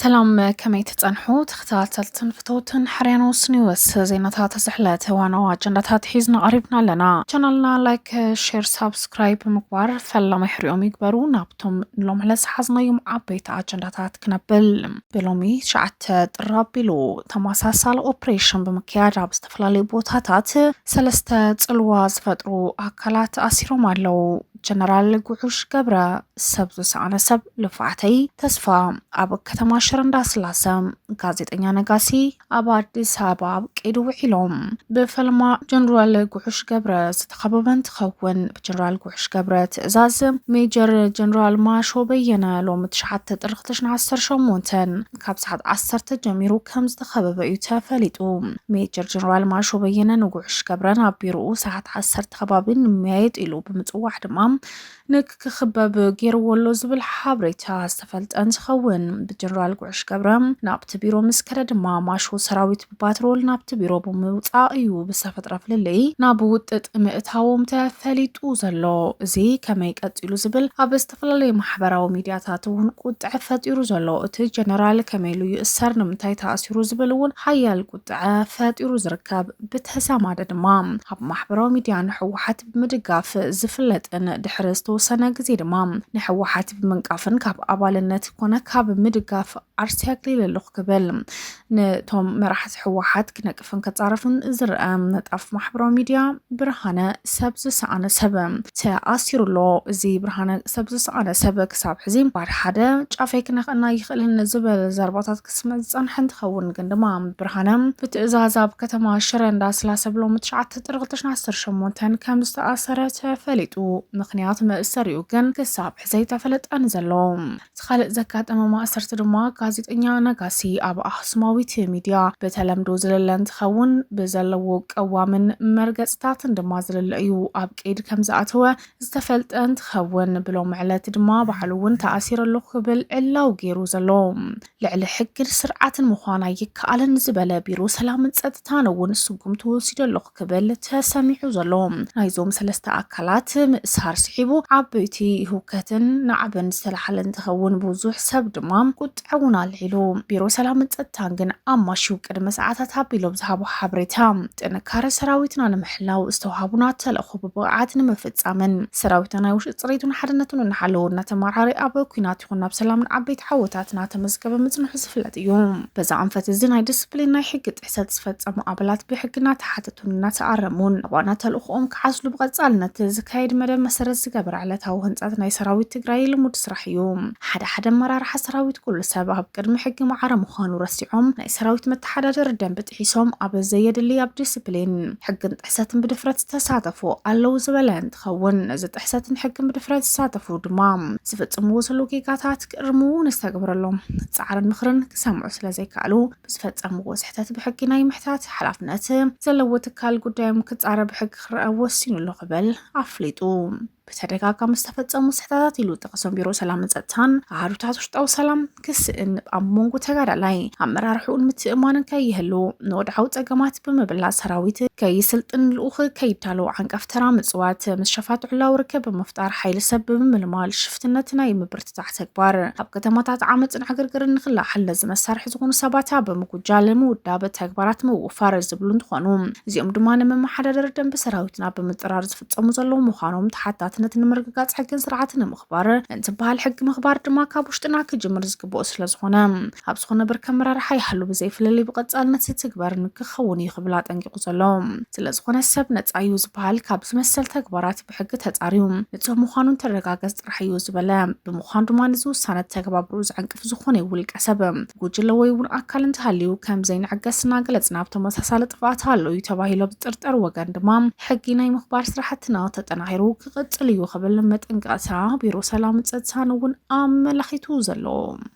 ሰላም ከመይ ትጸንሑ ተኸታተልትን ፍተውትን ሕርያኖ ስኒወስ ዜናታት ዝሕለት ዋናው ኣጀንዳታት ሒዝና ቀሪብና ኣለና ቻናልና ላይክ ሼር ሳብስክራይብ ብምግባር ፈላማይ ሕሪኦም ይግበሩ ናብቶም ንሎም ዕለት ዝሓዝናዮም ዓበይቲ ኣጀንዳታት ክነብል ብሎሚ ትሽዓተ ጥር ኣቢሉ ተመሳሳሊ ኦፕሬሽን ብምክያድ ኣብ ዝተፈላለዩ ቦታታት ሰለስተ ጽልዋ ዝፈጥሩ ኣካላት ኣሲሮም ኣለዉ። ጀነራል ጉዑሽ ገብረ ሰብ ዝሰኣነ ሰብ ልፍዓተይ ተስፋ ኣብ ከተማ ሽረ እንዳስላሰ ጋዜጠኛ ነጋሲ ኣብ ኣዲስ ኣበባ ኣብ ቀይዲ ውዒሎም ብፈልማ ጀነራል ጉዑሽ ገብረ ዝተኸበበ እንትኸውን ብጀነራል ጉዑሽ ገብረ ትእዛዝ ሜጀር ጀነራል ማሾ በየነ ሎሚ ትሽዓተ ጥሪ ክልተ ሽሕን ዓሰርተ ሸሞንተን ካብ ሰዓት ዓሰርተ ጀሚሩ ከም ዝተኸበበ እዩ ተፈሊጡ። ሜጀር ጀነራል ማሾ በየነ ንጉዕሽ ገብረን ኣብ ቢሮኡ ሰዓት ዓሰርተ ከባቢ ንመያየጥ ኢሉ ብምፅዋዕ ድማ ንክክበብ ገይርዎ ኣሎ ዝብል ሓበሬታ ዝተፈልጠ እንትኸውን ብጀነራል ጉዕሽ ገብረ ናብቲ ቢሮ ምስ ከደ ድማ ማሾ ሰራዊት ፓትሮል ናብቲ ቢሮ ብምውፃእ እዩ ብዝተፈጥረ ፍልልይ ናብ ውጥጥ ምእታዎም ተፈሊጡ ዘሎ። እዚ ከመይ ቀፂሉ ዝብል ኣብ ዝተፈላለዩ ማሕበራዊ ሚድያታት እውን ቁጥዐ ፈጢሩ ዘሎ። እቲ ጀነራል ከመይ ኢሉ ይእሰር፣ ንምንታይ ተኣሲሩ ዝብል እውን ሓያል ቁጥዐ ፈጢሩ ዝርከብ። ብተዛማዲ ድማ ኣብ ማሕበራዊ ሚድያ ንህወሓት ብምድጋፍ ዝፍለጥን ድሕሪ ዝተወሰነ ግዜ ድማ ንህወሓት ብምንቃፍን ካብ ኣባልነት ኮነ ካብ ምድጋፍ ዓርሰ ኣግሊለ ኣለኹ ክብል ንቶም መራሕቲ ሕወሓት ክነቅፍን ከፃረፍን ዝርአ ነጣፍ ማሕበራዊ ሚድያ ብርሃነ ሰብ ዝሰኣነ ሰብ ተኣሲሩ ኣሎ። እዚ ብርሃነ ሰብ ዝሰኣነ ሰብ ክሳብ ሕዚ ባድ ሓደ ጫፈይ ክነክእና ይኽእልን ዝበለ ዘርባታት ክስምዕ ዝፀንሐ እንትኸውን ግን ድማ ብርሃነ ብትእዛዝ ኣብ ከተማ ሽረ እንዳስላሰ ብሎም ትሽዓተ ጥሪ 2018 ከም ዝተኣሰረ ተፈሊጡ። ምክንያት መእሰሪኡ ግን ክሳብ ሕዚ ኣይተፈለጠን ዘሎ። እቲ ካልእ ዘጋጠመ ማእሰርቲ ድማ ጋዜጠኛ ነጋሲ ኣብ ኣኽሱማዊት ሚድያ ብተለምዶ ዝልለ እንትኸውን ብዘለዎ ቀዋምን መርገፅታትን ድማ ዝልለ እዩ ኣብ ቀይዲ ከም ዝኣተወ ዝተፈልጠ እንትኸውን ብሎም ዕለት ድማ ባዕሉ እውን ተኣሲረ ኣለኹ ክብል ዕላው ገይሩ ዘሎ ልዕሊ ሕግን ስርዓትን ምዃን ኣይከኣልን ዝበለ ቢሮ ሰላምን ፀጥታን እውን ስጉም ተወሲዶ ኣለኹ ክብል ተሰሚዑ ዘሎ። ናይዞም ሰለስተ ኣካላት ምእሳር ስዒቡ ዓበይቲ ህውከትን ናዕብን ዝተላሓለ እንትኸውን ብዙሕ ሰብ ድማ ቁጥዐ እውን ኣልዒሉ። ቢሮ ሰላምን ፀጥታን ግን ኣማሽዩ ቅድሚ ሰዓታት ኣቢሎም ዝሃቦ ሓበሬታ ጥንካረ ሰራዊትና ንምሕላው ዝተውሃቡና ተልእኾ ብብቕዓት ንምፍፃምን ሰራዊትና ናይ ውሽጢ ፅሬቱን ሓድነቱን እናሓለወ እናተመራሃረ ኣብ ኩናት ይኹን ናብ ሰላምን ዓበይቲ ዓወታት እናተመዝገበ ምፅንሑ ዝፍለጥ እዩ። በዚ ኣንፈት እዚ ናይ ድስፕሊን ናይ ሕጊ ጥሕሰት ዝፈጸሙ ኣባላት ብሕጊ እናተሓተቱን እናተኣረሙን ናብ ዋና ተልእኾኦም ክዓስሉ ብቐጻልነት ዝካየድ መደብ መሰረት ዝገበረ ዕለታዊ ህንጻት ናይ ሰራዊት ትግራይ ልሙድ ስራሕ እዩ። ሓደ ሓደ ኣመራርሓ ሰራዊት ኩሉ ሰብ ኣብ ቅድሚ ሕጊ ማዕረ ምዃኑ ረሲዖም ናይ ሰራዊት መተሓዳደሪ ደንቢ ጥሒሶም ኣብ ዘየድሊ ኣብ ዲስፕሊን ሕግን ጥሕሰትን ብድፍረት ዝተሳተፉ ኣለዉ ዝበለ እንትኸውን ነዚ ጥሕሰትን ሕግን ብድፍረት ዝሳተፉ ድማ ዝፍጽምዎ ዘለዉ ጌጋታት ክእርምዎ ንዝተገብረሎም ጻዕርን ምኽርን ክሰምዑ ስለ ዘይከኣሉ ብዝፈፀምዎ ስሕተት ብሕጊ ናይ ምሕታት ሓላፍነት ዘለዎ ትካል ጉዳዮም ክፃረ ብሕጊ ክረአ ወሲኑ ኣሎ ክብል ኣፍሊጡ። ብተደጋጋሚ ዝተፈፀሙ ስሕተታት ኢሉ ጠቕሶም ቢሮ ሰላምን ፀጥታን ኣሃዱታት ውሽጣዊ ሰላም ክስእን ኣብ መንጎ ተጋዳላይ ኣመራርሕኡን ምትእማንን ከይህሉ ንወድዓዊ ፀገማት ብምብላፅ ሰራዊት ከይስልጥን ልኡኽ ከይዳለዉ ዓንቀፍ ተራ ምፅዋት ምስ ሸፋት ዕላዊ ርከብ ብምፍጣር ሓይሊ ሰብ ብምምልማል ሽፍትነት ናይ ምብርታ ዝፍታሕ ተግባር ኣብ ከተማታት ዓመፅን ዕግርግርን ንክለዓል ነዚ መሳርሒ ዝኾኑ ሰባት ኣብ ምጉጃል ምውዳብ ተግባራት ምውፋር ዝብሉ እንትኾኑ እዚኦም ድማ ንመመሓዳደሪ ደንቢ ሰራዊትና ብምጥራር ዝፍፀሙ ዘለዉ ምዃኖም ተሓታትነት ንምርግጋፅ ሕግን ስርዓትን ንምኽባር እንትበሃል ሕጊ ምኽባር ድማ ካብ ውሽጥና ክጅምር ዝግብኦ ስለዝኾነ ኣብ ዝኾነ ብርኪ ኣመራርሓ ይሃሉ ብዘይፍልልይ ብቐፃልነት ዝትግበርን ክኸውን እዩ ክብል ኣጠንቂቑ ዘሎ። ስለዝኾነ ሰብ ነፃ እዩ ዝበሃል ካብዚ መሰል ተግባራት ብሕጊ ተፃርዩ ንፁህ ምዃኑ እንትረጋገፅ ጥራሕ እዩ ዝበለ ብምዃኑ ድማ እዚ ውሳነ ተግባብርኡ ዘዕንቅፍ ዝኾነ ውልቀ ሰብ ጉጅለ ወይ እውን ኣካል እንተሃልዩ ከም ዘይንዕገስ እናገለፅና ኣብ ተመሳሳሊ ጥፍኣት ኣሎ እዩ ተባሂሉ ኣብ ዝጥርጠር ወገን ድማ ሕጊ ናይ ምኽባር ስራሕትና ተጠናኺሩ ክቕፅል እዩ ክብል መጠንቀቕታ ቢሮ ሰላምን ፀጥታን እውን ኣመላኺቱ ዘሎ